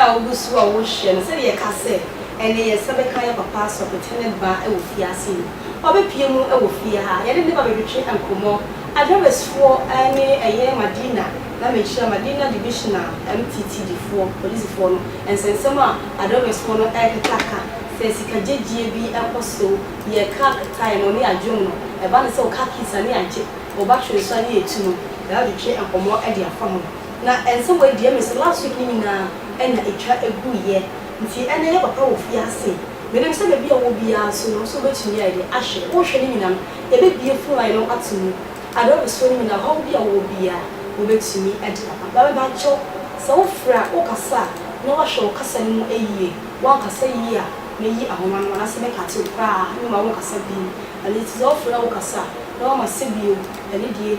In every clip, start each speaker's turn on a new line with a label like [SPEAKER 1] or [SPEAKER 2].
[SPEAKER 1] a wogu so a wɔhwɛ no sɛdeɛ yɛka sɛ ɛnnɛ yɛn nsa bɛka yɛn papa Asɔkwetwe ne ba wɔ fie ase yi. Ɔbɛpue mu wɔ fie ha. Yɛne ne ba bɛtwetwe nkɔmmɔ. Adwɛbɛsfoɔ ne ɛyɛ Madina na mekyerɛ Madina Divisional MTTD foɔ, polisifoɔ no, nsɛnsɛm a Adwɛbɛsfoɔ no ɛrekeka ka sɛ sika gyegyie bi ɛkɔ so yɛ car ketae no ne adwom no. Ɛba ne sɛ wo car keys ani agye, wo battery nso ani retu no, yɛadwetwe nkɔmmɔ de afa ho. Na ɛnsɛ woadua me so last week no nyinaa ɛna ɛtwa ɛguu yɛ nti ɛnɛ yɛ papa wɔ fie ha se menim sɛ baabi a ɔwɔ biaa nso no nso wobɛtumi ayɛ deɛ ahwɛ wohwɛ no nyina no yɛbɛbie phone line no ato mu aberɛ wosoɔ no nyina ɔhaw bi a wowɔ biaa wobɛtumi adi papa na mebakyɛw sɛ wo frɛ a wo kasa a na woahwɛ wo kasa no mu yie woankasa yie a mɛyi ahoma no anaasɛ mɛ kate wo koraa mema wonkasa bio ɛno nti sɛ wo frɛ a wo kasa na woama sɛ bio ɛno deɛ.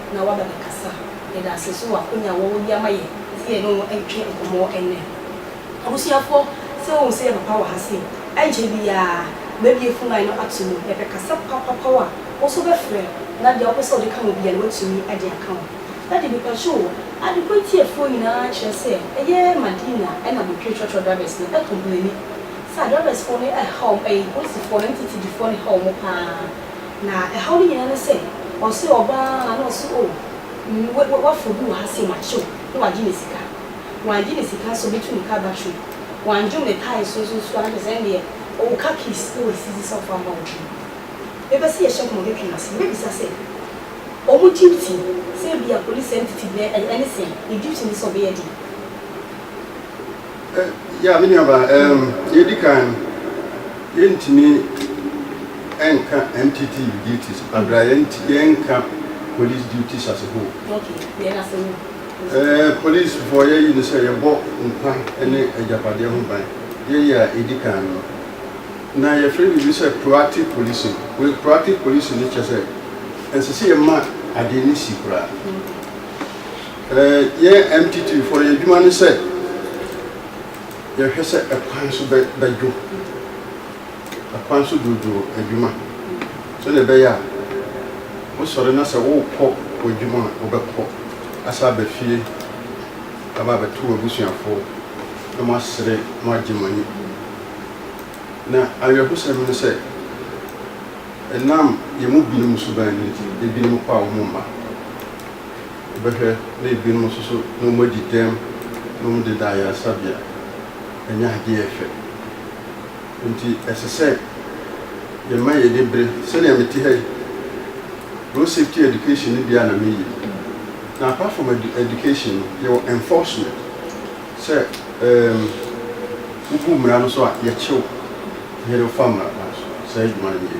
[SPEAKER 1] na waba bɛkasa. Yɛda ase nso wɔ akwannya a wɔwɔ de ama yɛn sɛ yɛne wɔn ntwe nkɔmmɔ nnɛ. Abusuafoɔ, sɛ wohu sɛ ɛyɛ papa wɔ ha sei, ɛnkyɛ biara mɛbue fon line no ato mu. Yɛpɛ kasa papapaw a wo nso wobɛfrɛ na deɛ wopɛ sɛ wode ka ho biara no woatumi de aka ho. Daddy, mepɛ kyɛw o, Adequate atiefoɔ nyinaa kyerɛ sɛ ɛyɛ Madina na Botwe trɔtrɔ drivers no ɛcomplaini sɛ adrivers foɔ no ɛha wɔn, ɛyi polisifoɔ no ne titirifoɔ no ha wɔn paa. Na ɛhaw no nyinaa ne sɛ, ɔsɛ ɔbaa ara na ɔse oh, mm, w'afro bi wɔ ha sei, makyew, na wagye ne sika. Wangye ne sika nso, ɔbɛtu ne car battery. Wandwom ne tae so nso nso a, na kyerɛ sɛ ɛnneɛ, ɔwɔ car keys na wasisi sɛ ɔfa mma wo dwom. Yɛbɛ se yɛhyɛ nkɔmmɔ bɛtwe no ase, yɛbɛbisa sɛ, wɔn duty sɛ ebia police entity bi no, ɛne sɛn? Ne duty ne sɛ ɔbɛyɛ den?
[SPEAKER 2] Yeah me nua baa um, deɛ edi kan no yɛntumi nka MTT duties abira yɛnti yɛnka police duties as a whole. Okay, yɛn asɛm no. Eh, police foɔ yɛyi no sɛ yɛbɔ nkwa ne agyapadeɛ ho ban. Yɛyɛ a edi kan no na yɛfrɛ biribi sɛ proactive policing. Wei proactive policing no kyɛ sɛ ɛnsɛ sɛ yɛma adeɛ no si koraa. Yɛn MTT foɔ no yɛn adwuma ne sɛ yɛhwɛ sɛ ɛkwan so bɛdwo, ɛkwan so dwoodwoo adwuma sɛdeɛ ɛbɛyɛ a wosɔre na sɛ worekɔ w'adwuma a wobɛkɔ asan aba fie aba abɛto w'abusuafoɔ na moasere, moagye mo ani. Na awerɛhosɛm ne sɛ ɛnam yɛn mu binom suban no nti ebinom kɔ a wɔmma. bɛhwɛ na ebinom nso so na wɔn adi dɛm na wɔn deda ayaresabea ɛnyɛ adeɛ a ɛfɛ nti ɛsɛ sɛ yɛ ma yɛ ani bere sɛnea me te ha yi road safety education no bia na me yi na apart from education no yɛ wɔ enforcement sɛ um, wobu mmara no so a yɛkyew yɛde fa mmara kwan so saa adwuma no yɛ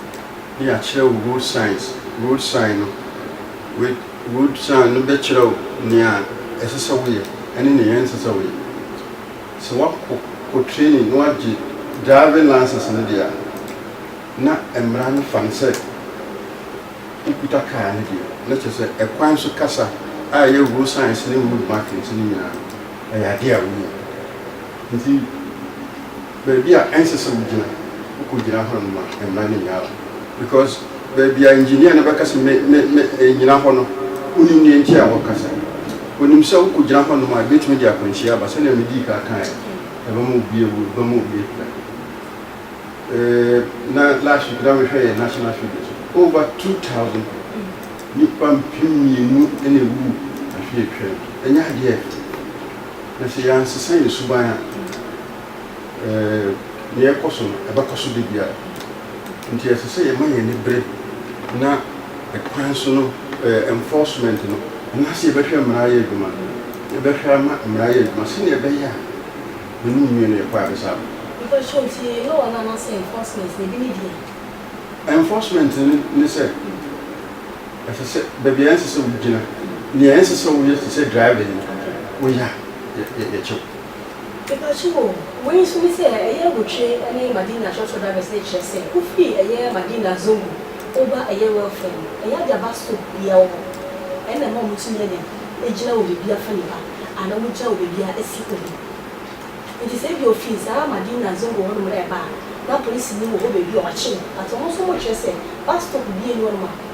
[SPEAKER 2] ne yɛakyerɛ wo road signs, road sign no, wei, road sign no bɛkyerɛ wo nea ɛsɛ sɛ woyɛ ne nea ɛnsɛ sɛ woyɛ. Sɛ woakɔ kɔ training na woagye driving license no deɛ a, na mmara no fa no sɛ wokuta kaa no deɛ, na kyerɛ sɛ ɛkwan so kasa a ɛyɛ road signs ne road markings no nyinaa no, ɛyɛ adeɛ a wonim. Nti. baabi a ɛnsɛ sɛ wogyina, wokɔgyina hɔ no ma mmara no nyaa wo because baabi a engineer no bɛka sɛ me, me, me, mennyina hɔ no, wonim deɛ nti a wɔkasa. Wɔnim sɛ wokɔgyina hɔnom a ɛbɛtumi de akwanhyia aba sɛdeɛ medii kan kaeɛ no, ɛbɛma obi awu, ɛbɛma obi apira. Eh, na last week na mehwɛ yɛ national figures, over 2000 nipa mpem mmienu na ɛwu afe atwam, ɛnyɛ adeɛ ɛfɛ. Na sɛ yɛansesa yɛn suban a, nea ɛrekɔ so no, ɛbɛkɔ so da biara. Nti ɛsɛ sɛ yɛma yɛn ani bere na kwan so no enforcement no, anaasɛ yɛbɛhwɛ mmara ayɛ adwuma, yɛbɛhwɛ ama mmara ayɛ adwuma sɛnea ɛbɛyɛ a yɛn mu nwie no yɛkɔ abɛsaw. Mepakyɛ wo, nti ɛyɛ wɔn
[SPEAKER 1] anaasɛ enforcement no, ebi ne deɛn? Enforcement
[SPEAKER 2] no ne sɛ, ɛsɛ sɛ baabi a ɛnsɛ sɛ wogyina, nea ɛnsɛ sɛ woyɛ te sɛ driving no, woyɛ a, yɛkyɛ wo.
[SPEAKER 1] Mepakyɛw o, wei nso ne sɛ ɛyɛ awotwe ne Madina trɔtrɔ drivers no kyerɛ sɛ wofi ɛyɛ Madina Zongo woba ɛyɛ Welfare no, ɛyɛ Aja bus stop biaa wɔ hɔ, ɛna ɛma ɔmo tumi anya gyina wɔ bebia fa nifa anaa ɔmo gyina wɔ bebia si obi. Nti sɛ ebia ofi saa Madina Zongo hɔ nom reba a na polisini wɔ hɔ bebia ɔkye no but ɔmo nso ɔmo kyerɛ sɛ bus stop bia nni hɔ nom a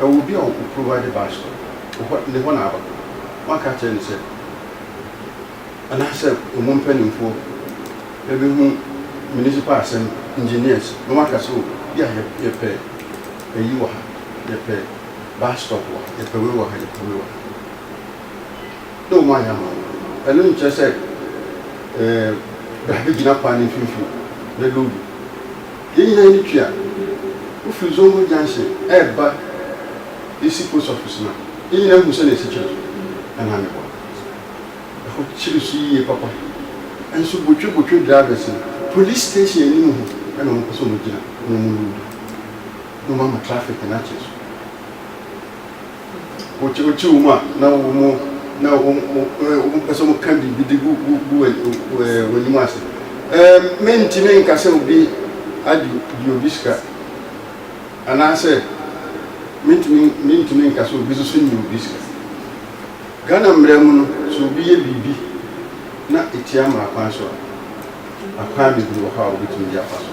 [SPEAKER 2] Ɔwɔ obi a ɔ provide bus no, ɔhɔ ne hɔ na aba. Woanka akyerɛ no sɛ, anaasɛ ɔmu mpaninfoɔ bɛhu municipal asɛm engineers na wɔaka sɛ o bia yɛ yɛpɛ ayi wɔ ha, yɛpɛ bus stop wɔ ha, yɛpɛ wei wɔ ha, yɛpɛ wei wɔ ha na ɔmu ayɛ ama wo. Ɛno nkyerɛ sɛ ɛɛ bra bɛgyina kwan no mfimfini na load wo. Yɛn nyinaa ani tua. Wofiri Zongo junction reba Isi post office no a, yɛn nyinaa hu sɛnea esi kyere so denam hɔ no. Ɛhɔ kyere so yiye papa. Nso botwebotwe drivers no. Police station anim hɔ na wɔpɛ sɛ wɔgyina na wɔloodi na wɔama traffic no akyere so. Wokyi wɔn a na wɔpɛ sɛ wɔka biribi de gu w'anim ase. Merentumi nka sɛ obi agye obi sika, anaasɛ merentumi nka sɛ obi nso nni obi sika. Ghana mmara mu no, sɛ obi yɛ biribi na ɛtia mmarakwan so a, akwan bebree wɔ hɔ a wobɛtumi de afa so.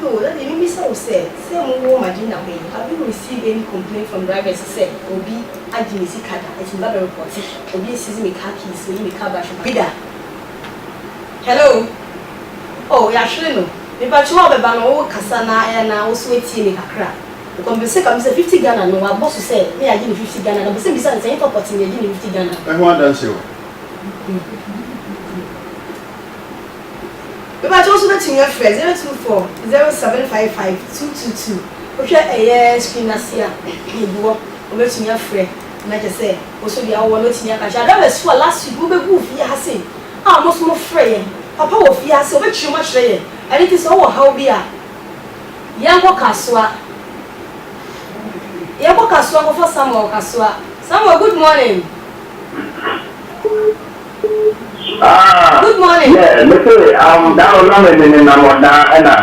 [SPEAKER 2] Yoo daddy me bisa wo sɛ sɛ mo wɔ madina hɔ yi have you receive any complaint from drivers sɛ obi agye me sika da ɛti me ba bɛ report obi asizi me car keys oyi me car battery ba bi da hello oh yahwere no me pa kyew a ɔbɛba no wo kasa na ɛyɛ na wo so atie me kakra ɔkɔ me pɛ sɛ ka me sɛ fifty Ghana no wa bɔ so sɛ me agye ne fifty Ghana na pɛ sɛ me bisa no sɛ ɛyɛ papa ti me agye ne fifty Ghana. Ɛho adanseɛ wɔ. Mepakyɛw nso wobɛtumi afrɛ zero two four zero seven five five two two two wohwɛ ɛyɛ screen no ase a yɛgu hɔ wobɛtumi afrɛ na kyerɛ sɛ wo nso deɛ wowɔ no woatumi aka akyerɛ Adawursi fo a last week mobɛguu fie ha sei a ɔmo nso mofrɛ yɛn papa wɔ fie ha sei ɔbɛkyerɛ mu akyerɛ yɛn ɛno nti sɛ wowɔ haw bi a yɛnkɔ kasoa yɛnkɔ kasoa nkɔfa Samuel kasoa Samuel good morning. Ah, yeah, me se, um,
[SPEAKER 3] da no na me ne ne nam ɔda ɛna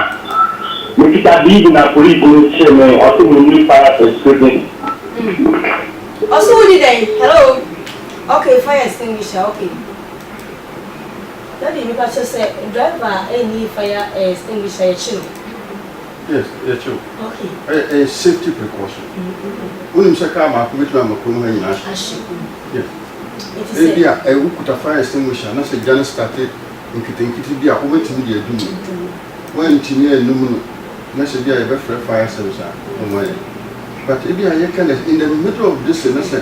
[SPEAKER 3] me kita biibi na police no kye me, ɔse me nni fire extinguisher. Mm, ɔse wo nni dɛn? Hello? Okay, fire
[SPEAKER 1] extinguisher, okay. Daddy, me
[SPEAKER 3] pakyɛ sɛ driver
[SPEAKER 1] ɛnni fire extinguisher, yɛkye no.
[SPEAKER 2] Yes, yɛkyerɛ wo. Okay. Ɛyɛ ɛyɛ
[SPEAKER 1] safety precaution.
[SPEAKER 2] Wonim sɛ kaa baako bɛtumi ama kurom ha nyinaa ahye. Ahye. Yes. Ɛti sɛ. Ebi a ɛyɛ wokuta fire extinguisher anasɛ gya no starte nketenkete bi a wobɛtumi de adum no. Adum. Woantumi anum no na sɛ bi a yɛbɛfrɛ fire service a wɔmmoa yɛn. But ebi a yɛka no in the middle of this thing ne sɛ.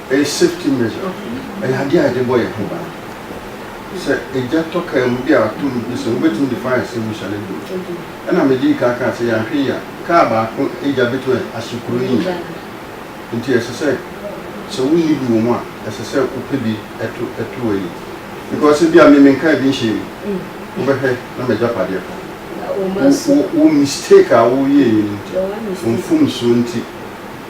[SPEAKER 2] Ɛyɛ safety measure, ɛyɛ adeɛ a yɛde bɔ yɛn ho ban. Sɛ egya tɔ kaa mu bi a atom bi sen, wobɛtumi de fire extinguisher no agu mu. Ɛna medii kan kaa sɛ yɛanhwɛ yie a, kaa baako egya bɛtumi ahye kuro yi nyinaa. Nti ɛsɛ sɛ, sɛ wonni bi wɔ mu a, ɛsɛ sɛ wopɛ bi to to ayi. Because ebia me menkaa bi nhyɛɛ mu, wobɛhwɛ na m'agyapadeɛ ka ho. Wo mistake a woyɛeɛ no nti, wo mfomsoɔ nti.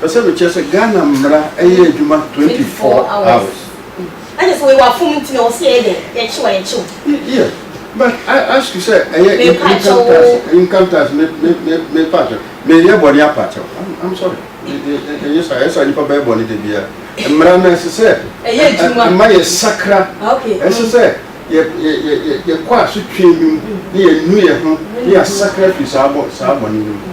[SPEAKER 2] Pɛ sɛ mekyerɛ sɛ Ghana mmara yɛ adwuma twenty four hours. Ɛna sɛ
[SPEAKER 1] wɔyɛ afom nti na
[SPEAKER 2] wɔsi ɛyɛ dɛn yɛkyew a yɛkyew. Yeah but I ask you sɛ ɛyɛ income tax income tax me me me me paakyɛw me yɛ bɔne apaakyɛw I'm I'm sorry ɛnyɛ saa ɛyɛ saa nipa bɛyɛ bɔne de bia mmara na ɛsɛ sɛ ɛyɛ adwuma ɛma yɛ sakra ɛsɛ sɛ yɛ yɛ yɛ yɛ kɔ asotwe bi mu ne yɛ nu yɛ ho ne yɛ asakra fi saa bɔ saa bɔne bi mu.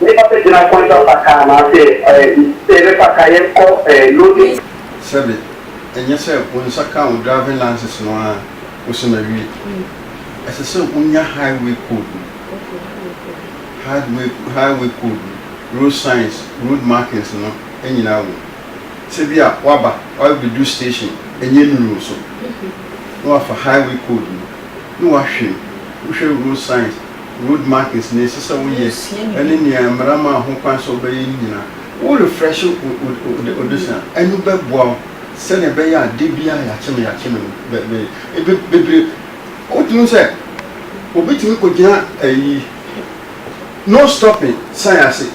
[SPEAKER 3] Nnipa bɛgyina kwan so
[SPEAKER 2] afa kar anaasɛ yɛbɛfa kar yɛn kɔ loading. Sɛbe, ɛnyɛ sɛ wo nsa ka wo driving license no ara kɔsi mawie. Ɛsɛ sɛ wonya highway code no, highway code no, road signs, road markings no nyinaa wom. Sɛ bi a woaba, woabɛdu station, ɛnyɛ nnuru wo so, na woafa highway code no, na woahwɛ mu, wohwɛ road signs, Road markings, nea ɛsɛ sɛ woyɛ, ne nea mmara maa ho kwan sɛ wobɛyɛ no nyinaa. Wo refresh wo adesua a, ɛno bɛboa wo sɛnea ɛbɛyɛ a da biara yɛakyem yɛakyem no bɛyɛ. Bebree, wotumi hu sɛ obi tumi kogyina ayi no stopping sign ase.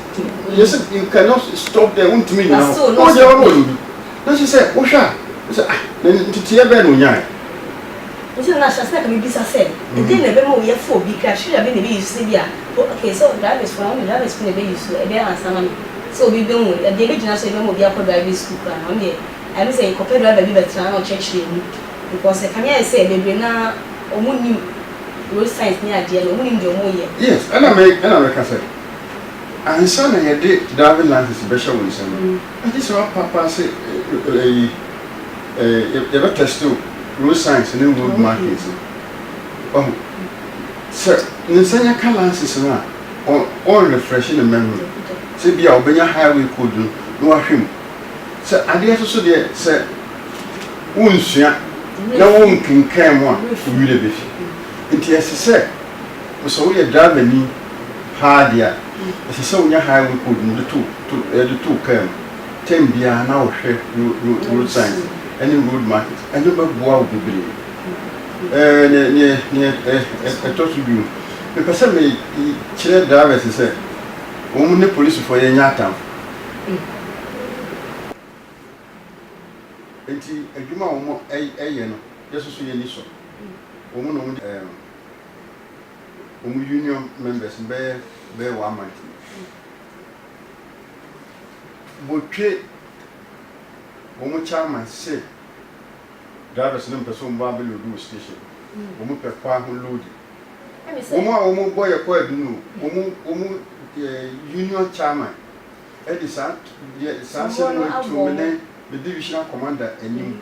[SPEAKER 2] Yɛ sɛ you cannot stop there, wontumi nnyina hɔ. Na wodeɛ wabɔ no du. Na ɛsɛ sɛ wohwɛ a, sɛ ah, na nteteeɛ bɛn na ɔnyaeɛ? Nti
[SPEAKER 1] na nahyɛ ase na ka mebisa sɛ ɛdɛn na ɛbɛma wo yɛfo obi criteria bɛn na ɛbɛ use sɛ bi a okay so drivers fo no ɔmo de drivers fo na ɛbɛ use so ɛbɛ answer ama me sɛ obi bɛ hu ɛdeɛ ɛbɛ gyina so ɛbɛma obi akɔ driving school koraa no ɔno deɛ ayɛ me sɛ kɔpɛ driver bi bɛ tra na ɔkyerɛkyerɛ mu because ɛka me ayɛ sɛ bebree no ara ɔmo nnim road signs ne adeɛ no ɔmo nnim deɛ ɔmo yɛ. Yes ɛna me ɛna
[SPEAKER 2] mɛka sɛ ansa na yɛde driving license bɛhyɛ wo nsam no Gye sɛ ɔpa paa sɛ ɛyi ɛɛ yɛbɛ test o road signs ne road markings no ɔho sɛ ne nsa nya ka lances no a ɔn refresh ne memory sɛ bi a ɔbɛnya highway code no na wahwɛ mu sɛ adeɛ so so deɛ sɛ wo nsua na wo nkenkan mu a wo werɛ bɛfi nti ɛsɛ sɛ sɛ woyɛ driver ni paa de a, ɛsɛ sɛ wonya highway code no de to wo kaa mu. Term biara na wohwɛ road signs ne road markings. Ɛno bɛboa wo bebree. Ɛɛ, nea ɛtɔ so du no, mepɛ sɛ mekyerɛ drivers sɛ wɔn ne polisifoɔ yɛnyɛ atamfo. Nti adwuma a wɔyɛ no, yɛn nso so yɛn ani sɔ wɔn na wɔn de. wɔn union members no bɛyɛ bɛyɛ one month no, wɔtwe wɔn chairman se drivers no mpɛ sɛ wɔn ba abɛloadi wɔ station, wɔn pɛ kwan ho loadi. Wɔn a wɔn bɔ yɛ kɔ adu no, wɔn wɔn eh, union chairman ɛde saa yɛ saa sɛ wɔn atum ne ne divisional commander anim.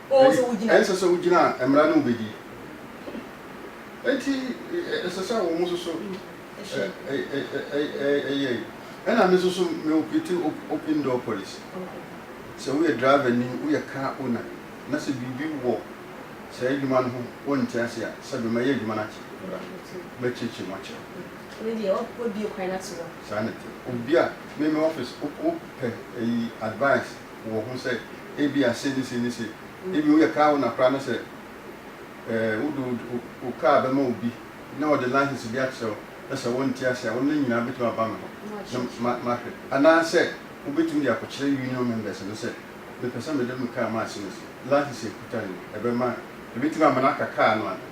[SPEAKER 2] Ɛnsɛ
[SPEAKER 1] sɛ wogyina mmara
[SPEAKER 2] no mu bedi. Enti ɛsɛ sɛ wɔn nso so yɛ. Ɛna me nso so me operate open door policy. Sɛ woyɛ driver ni, woyɛ car owner na sɛ biribi wɔ saa adwuma no ho wonte ase a, sɛ me mɛyɛ adwuma no akyerɛ wo. Mɛkyerɛkyerɛ mu akyerɛ wo. Ɛno
[SPEAKER 1] deɛ wabue kwan ato hɔ. Saa na ɛte. Obi
[SPEAKER 2] a me me office wopɛ ayi advice wɔ ho sɛ ebia se ne se ne se, ebia woyɛ kaa owner koraa na sɛ eh, wode wo wo kaa bɛma obi na ɔde license bi akyerɛ wo na sɛ wonte ase a, wo ne no nyinaa bɛtumi aba me hɔ na ma mahwɛ. Anaasɛ wobɛtumi de akɔkyerɛ union members no sɛ mepɛ sɛ mede me kaa ma ase ne se, license a ɛkuta no ni, ɛbɛma, ɛbɛtumi ama no aka kaa no anaa?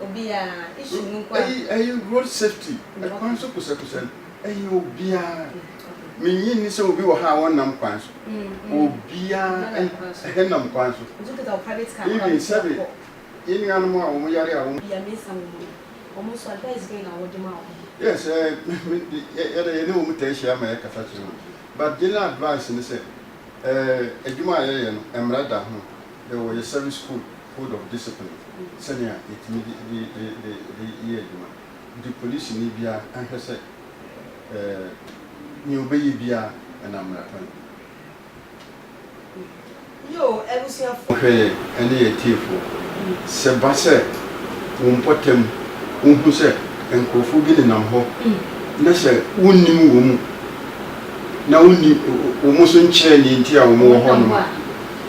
[SPEAKER 1] Obiara, issue no nko ara. Ɛyi ɛyi road
[SPEAKER 2] safety, ɛkwan so kosɛkosɛ no ɛyɛ obiara. Minnye nni sɛ obi wɔ ha a wɔnnam kwan so. Obiara ɛnam kwan so. Even sɛbe yɛn
[SPEAKER 1] nuanom a wɔn yare
[SPEAKER 2] a wɔn. Bia mesa wɔn mu no, wɔn nso advice bɛn na wɔde ma
[SPEAKER 1] wɔn? Yes,
[SPEAKER 2] yɛde yɛne wɔn taa hyia ma yɛkasa kyerɛ wɔn. But general advice ne sɛ, ɛɛ adwuma a yɛyɛ no, mmara da ho. Dɛ wɔyɛ service code, code of discipline, sɛnea yɛtumi de de de de de yɛ adwuma. Nti polisini biara nhwɛ sɛ nea ɔbɛyɛ biara ɛnam mmara kwan
[SPEAKER 1] mu. Hwɛ yɛn ne yɛn
[SPEAKER 2] atiefoɔ. Sɛ ɛba sɛ wo mpɔtam wohu sɛ nkorɔfoɔ bi nenam hɔ na sɛ wonnim wɔn mu na wonni wɔn nso nkyɛɛ nea nti a wɔwɔ hɔnom a,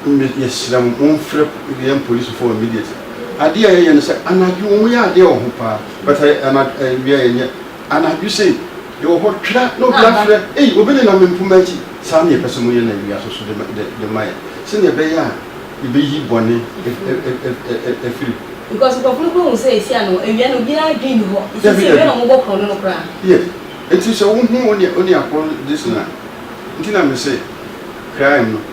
[SPEAKER 2] Me yɛsrɛ mo monfrɛ yɛn polisifo immediately adeɛ a yɛyɛ no sɛ anadwo wɔn yɛ adeɛ wɔ ho paa but ayɛ anadwo awia yɛnyɛ anadwo sei yɛwɔ hɔ twera na obi afrɛ ei obi nenam me mpoma akyi saa na yɛpɛ sɛ moyɛ no awia so so de ma yɛn sɛnea ɛbɛyɛ a yɛbɛyi bɔne afiri
[SPEAKER 1] Because nkurɔfo no kura hu sɛ esi
[SPEAKER 2] ano awia no obiara adwene nni hɔ. Nti sɛ awia na wɔbɔ korɔno no koraa. Yes. Nti sɛ wohu one one akɔn this na. Nti na me se crime no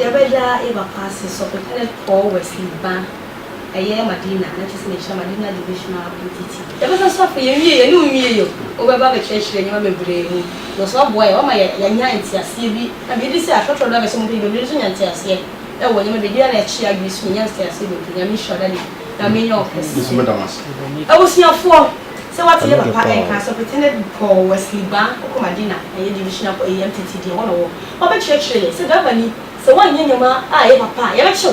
[SPEAKER 2] Yɛbɛda
[SPEAKER 1] yɛ papa ase sɔ pɛpɛnɛ kɔɔ wɛsi ba ɛyɛ madina na kyɛsɛ mehyɛ madina divisional ntt. Yɛbɛsan so afei yɛnwie yɛne wo nwie yɛ o wobɛba abɛkyerɛkyerɛ nneɛma bebree mu na ɔsan aboa yɛ wama yɛanya nteaseɛ bi na biribi sɛ atorɔtorɔ dɔ abɛsɛ mu mpo yɛbɛbire so nya nteaseɛ ɛwɔ nneɛma bebree biara na ɛkye adwene so yɛnya nteaseɛ bebree Nyame nhyira wo daddy Nyame nyɛ wo kɛseɛ. Abusuafoɔ. Sɛ wate yɛ papa nka asɔpete na bi pɔɔ wɔ asilibaa kokoma de na ɛyɛ divisional kɔ eem tete deɛ hɔ na ɔwɔ. Ɔbɛ kyerɛ kyerɛ yɛ sɛ driver ni sɛ woanyɛ nneɛma a ɛyɛ papa a yɛbɛ kyew.